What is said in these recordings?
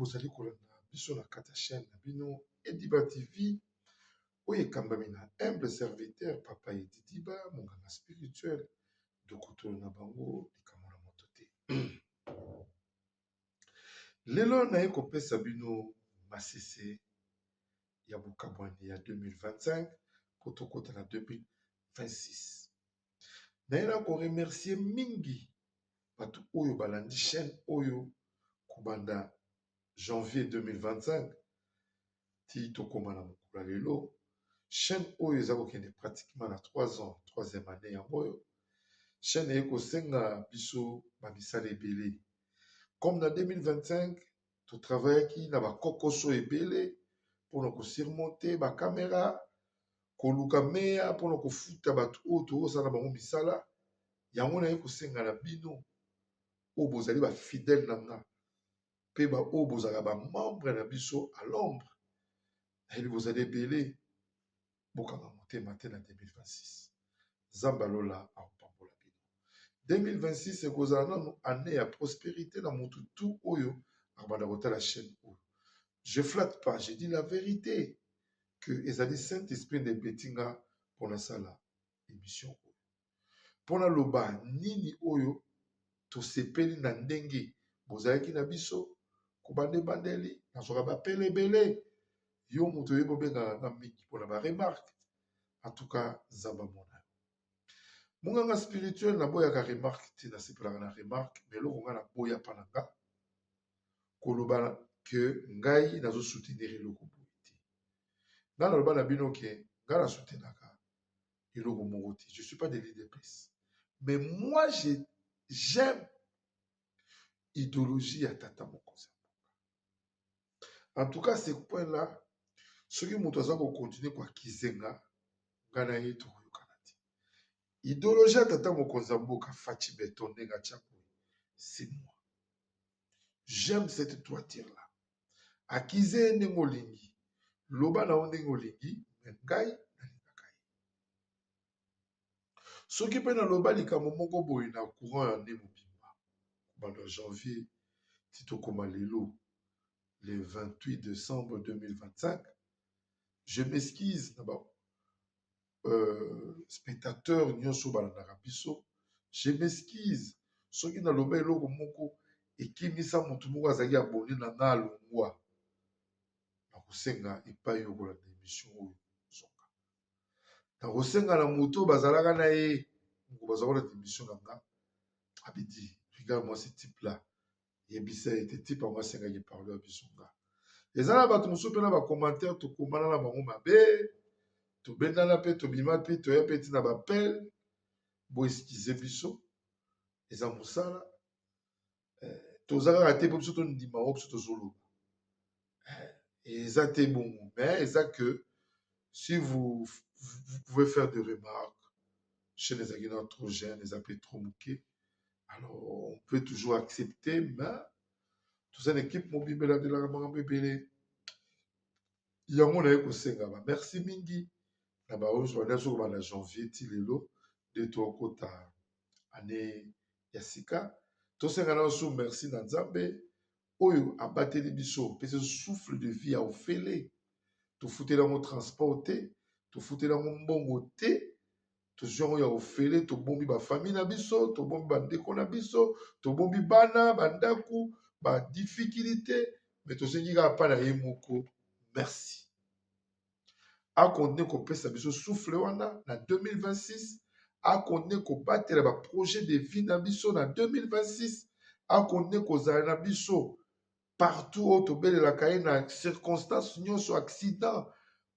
bozali kolanda biso na kati ya chaîne na bino ediba tv oyo ekambami na humble serviteur papa edidiba monganga spirituel dokotolo na bango likambo na moto te Lelo naye kopesa bino masese ya bokabwani ya 2025 po tokota na 2026. Naye na ko remercier mingi bato oyo balandi chaine oyo kobanda janvier 2025 ti tokoma na mokolo ya lelo chaine oyo eza kokende pratiquement na 3 ans 3ième annee yango oyo chaine eye kosenga biso bamisala ebele comme na 2025 totravayaki na bakokoso ebele mpona kosurmonte bakamera koluka meya mpona kofuta bato oyo toosala na bango misala yango naye kosenga na bino oyo bozali bafidele na nga mpe baoyo bozalaka bamembre na biso a londre nayebi bozali ebele bokanga motema te na 2026 nzambe alola akopambola bino 2026 ekozala nano année ya prosperité na motu tu oyo akobanda kotala chaîne oyo je flatte pas je dis la vérité que ezali saint esprit nde epetinga mpo nasala émission oyo mpo naloba nini oyo tosepeli na ndenge bozalaki na biso kobanda ebandeli nazwaka bapele ebele yo moto oyebi obengaka nga mingi mpona baremarke antuka nzambe amona yo monganga spirituel naboyaka remarke te nasepelaka na remarke ma eloko ngai naboya mpa na nga koloba ke ngai nazosoutenir eloko boye te ngai naloba na bino ke ngai nasutenaka eloko moko te je suis pas de l'udps mais moi je j'aime idéologie ya tata mokonzi ya mboka en tout cas ce point là soki moto aza kokontinue kwa kizenga ngai na ye tokoyokana te ideologie ya tata mokonzi ya mboka faci beton ndenge atya boye simwa j'aime cette toiture là akize ye ndenge olingi loba na yo ndenge olingi me ngai nalingaka ye soki mpe naloba likambo moko boye na courant ya nde mobimba kobanda janvier ti tokoma lelo le 28 décembre 2025 je m'excuse na ba euh, spectateur nyonso balandaka biso je m'excuse soki naloba eloko moko ekimisa moto moko azalaki abone na nga alongwa nakosenga epai okolanda emission oyo zonga nakosenga na moto oyo bazalaka na ye moko baza kolanda emission na nga abidi regarde moi ce type là yebisa ye te tipe yango asengaki pardon ya biso nga eza na bato mosusu mpe na bacommentaire tokomana na bango mabe tobendana mpe tobima mpe toya mpe ntina bapele boeskize biso eza mosala eh, toza kaka te mpo biso tondima yango biso tozoloba eza te bongo mais eza que si vous, vous, vous pouvez faire des remarques chez les aguinants trop jeunes eza mpe trop moke alors on peut toujours accepter mais toza na équipe mobimba eladelaka makambo ebele yango naye kosenga ba merci mingi na baoyo zwanda soki banda janvier ti lelo nde tokota ane ya sika tosenga na osu merci na nzambe oyo abateli biso pese souffle de vie ya ofele tofuteli yango transport te tofuteli yango mbongo te tozwi yango ya ofele tobombi bafamille na biso tobombi bandeko na biso tobombi bana bandako badifikilite me tosengi kaka mpa na ye moko merci a continue kopesa biso souffle wana na 2026 a continue kobatela ba projet de vie na biso na 2026 a continue kozala na biso partout oyo tobelelaka ye na circonstance nyonso accident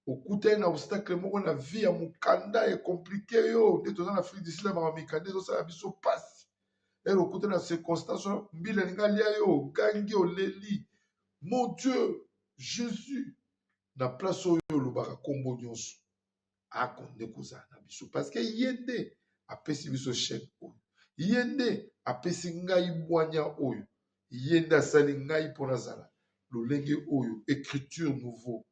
okutani na obstacle moko na vie ya mokanda e complique yo nde toza na afrique du sud ya makambo mikanda ezosala biso mpasi ere okutani na circonstance wana mbila elingi alia yo ogangi oleli mon dieu jésus na place oyo olobaka nkombo nyonso akonde kozala na biso parceke ye nde apesi biso chaine oyo ye nde apesi ngai bwanya oyo ye nde asali ngai mpo nazala lolenge oyo écriture nouveau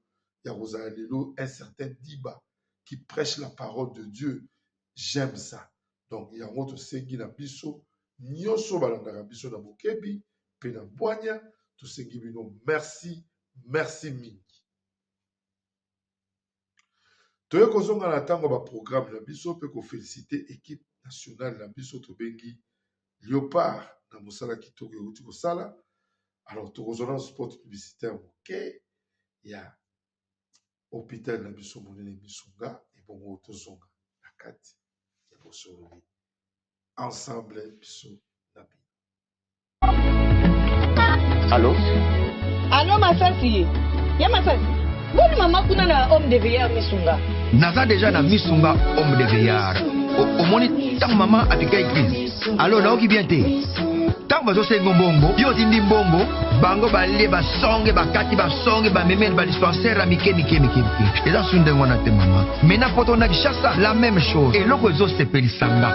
ya kozala lelo un certain diba qui prêche la parole de dieu j'aime ça donc yango tosengi na biso nyonso balandaka biso na bokebi mpe na bwanya tosengi bino merci merci mingi toye kozonga na ntango ya baprograme na biso mpe kofelisite ekipe nationale na biso tobengi leopard na mosala kitoko euti kosala alors tokozwa na sport publicitaire moke ya hôpital na biso monene misunga ebongo tozonga na kati ya bosololi ensemble biso Allô Allô Masasi Ya Masasi Boni mama kuna na homme de veilleur misunga Naza déjà na misunga homme de veilleur omoni ntango mama apikai crise alo naoki bien te ntango bazosengo mbongo yo otindi mbongo bango balie basonge bakati basonge bamemeli badispensaire ya mike mike mike mike eza su ndenge wana te mama mena poto na kishasa la même chose eloko ezosepelisanga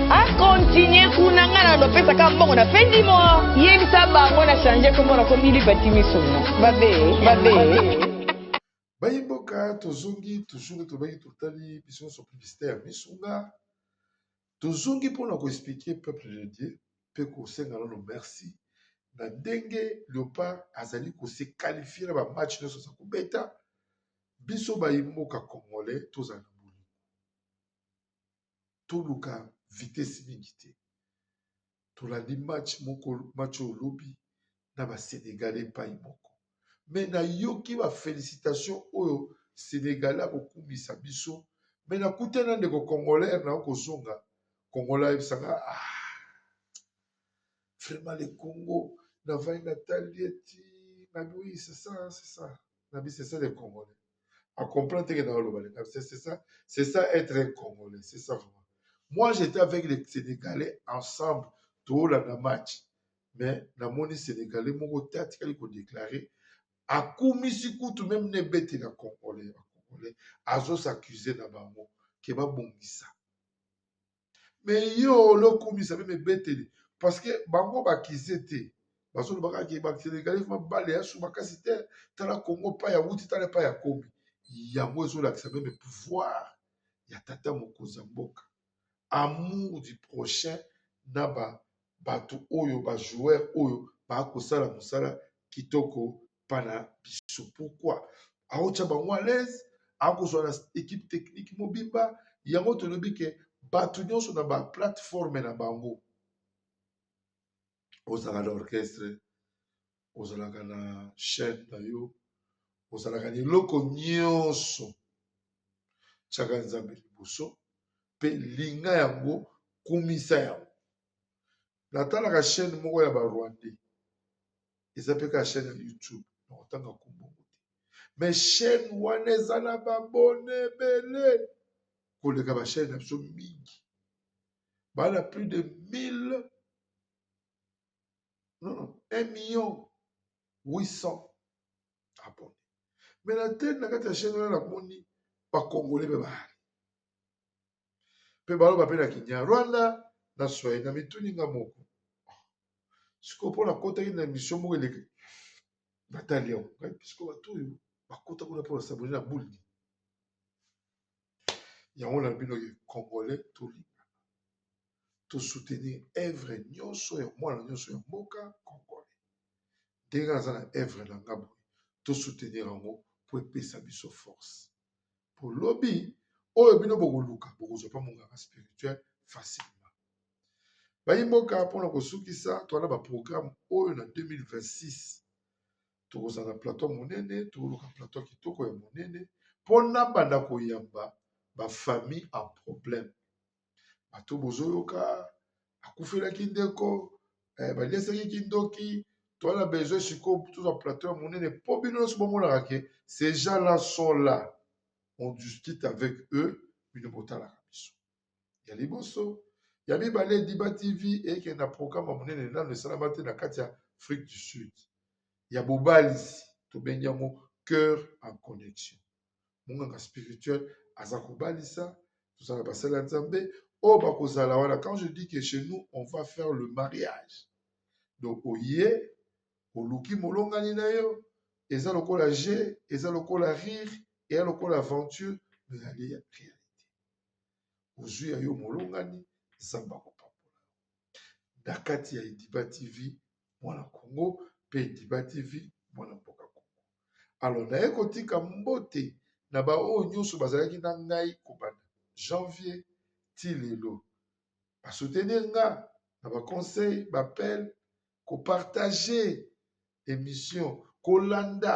A continuer kuna nga na lopesa ka mbongo na fin du mois. Yebisa bango na changer kombo na komi libati misuna. Babe, babe. Bayimboka tozongi toujours tobaki totali biso nyonso publicité ya misunga tozongi mpona koexplike peuple de dieu mpe kosenga nano merci na ndenge leopard azali kose qualifie na bamatch nyonso aza kobeta biso bayimboka congolais tozala toluka vitese mingi te tolandi match moko match oyo lobi na basenegalais epai moko me nayoki bafelicitation oyo senegalais akokumisa biso me nakuta na ndeko congolaire na kozonga kongola ayebisaka ah, vraiment le congo navai natali eti nabiwi sesa sesa na bise c'est le congolais a comprendre teke na oloba leka c'est ça c'est ça être un congolais c'est ça vraiment moi j'étais avec les sénégalais ensemble toolanda match mais namoni sénégalais moko te atikali kodeklare akumisi kutu meme na ebetela congolais bacongolais azosaccuse na bango ke babongisa me yo olokumisa meme ebeteli parceke bango bakize te bazoloba kaka ke basenegalais mabale ya su makasi te tala congo pa ya wuti tala pa ya komi yango ezolakisa meme pouvoir ya tata mokonzi ya mboka amour du prochain na ba bato oyo bajoueur oyo bakosala mosala kitoko epa na biso pourquoi aotya bango à l'aise akozwa na équipe technique mobimba yango tolobi ke bato nyonso na ba plateforme na bango ozalaka na orchestre ozalaka na chaîne na yo ozalaka na eloko nyonso tyaka nzambe liboso mpe linga yango kumisa yango natalaka chaîne moko ya barwandais eza mpe kaka chaîne ya youtube na kotanga kombongo te me chaîne wana eza na babone ebele koleka bachaîne na biso mingi baa na plus de 1000 non, non, 1 million 800 abonne me na teni na kati ya chaîne wana namoni bakongole mpe baali mpe baloba mpe na kinyarwanda na swai na mituni nga moko sikoyo mpo nakotaki na emission moko eleki natali yango ngai pisiko bato oyo bakota kuna mpo basabone na buldi yango na bino ye congolais tolingana tosoutenir evre nyonso ya mwana nyonso ya mboka congolais ndenge aza na evre na nga boye tosoutenir yango mpo epesa biso force po lobi oyo bino bokoluka bokozwa mpe monganga spirituel facilement bayi mboka mpona kosukisa toa na baprograme oyo na 2026 tokozala na plateau monene tokoluka plateau kitoko ya monene mpona banda koyamba bafamille en problème bato bozoyoka akufelaki ndeko eh, baliesaki kindoki toala besoin sikoyo tozwa plateau ya monene mpo bino nyonso bomonaka ke ces gens là sont là on discute avec eux bino botalaka biso ya liboso ya mibale diba tv eyekende na programme ya monene nano esalama te na kati ya afrique du sud ya bobalisi tobengi yango cœur en connexion monganga spirituel aza kobalisa toza na basali ya nzambe oyo bakozala wana quand je dis que chez nous on va faire le mariage donc oye oluki molongani na yo eza lokola jeu eza lokola rire eya lokola aventure ezali ya réalité ozwi ya yo molongani nzambe akopambola na kati ya ediba tv mwana congo pe diba TV mwana mboka congo alors naye kotika mbote na baoyo nyonso bazalaki na ngai kobanda janvier ti lelo ba soutenir nga na ba conseil ba appel ko partager emission kolanda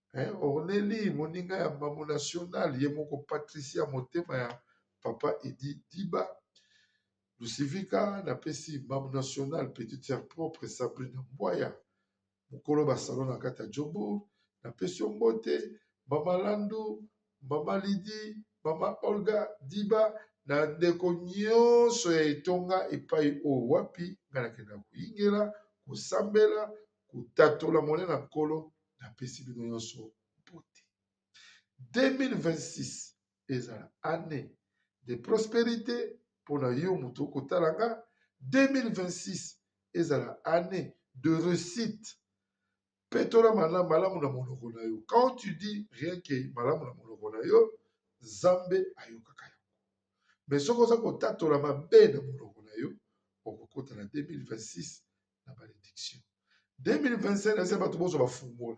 hein, orneli moninga ya mbamu national ye moko patricia motema ya papa edi diba lucivika napesi mbamu national petite sœur propre sabrina mbwaya mokolo basalo na kati ya jobour napesi yo mbote mama landu mama lidi mama olga diba na ndeko nyonso ya etonga epai oyo wapi ngai nakenda koyingela kosambela kotatola monene ya nkolo napesi bino nyonso mbote 2026 ezala année de prosperité mpo na yo moto okotala nga 2026 ezala année de réussite petola malamu malamu na monoko na yo quand tu dis rien que malamu na monoko na yo nzambe ayokaka yango mais soki oza kotatola mabe na monoko na yo okokota na 2026 na benediction 2025 eza bato bozo bafungola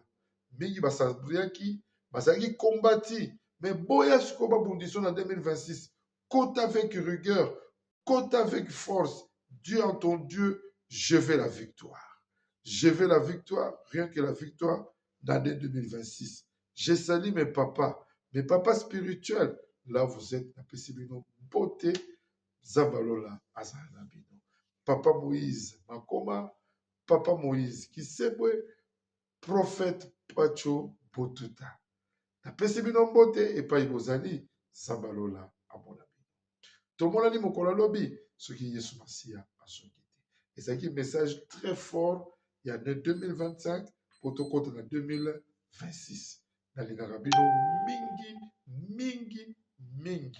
mingi basabriaki bazalaki kombati me boya sikoyo babundiso na 2026 cote avec rigueur cote avec force dieu en ton dieu je vais la victoire je vais la victoire rien que la victoire d'année 2026 je sali mes papas mes papas spirituels là vous êtes napesi bino mpote Nzambe ya lola azala na bino. Papa Moïse Makoma, Papa Moïse Kisebwe, Prophète Pacho Botuta. Napesi bino mbote epai bozali, Nzambe ya lola amona bino. Tomonani mokolo ya lobi soki Yesu Masiya azongi te. Ezalaki message très fort ya ne 2025 mpo tokota na 2026. Nalingaka bino mingi mingi mingi.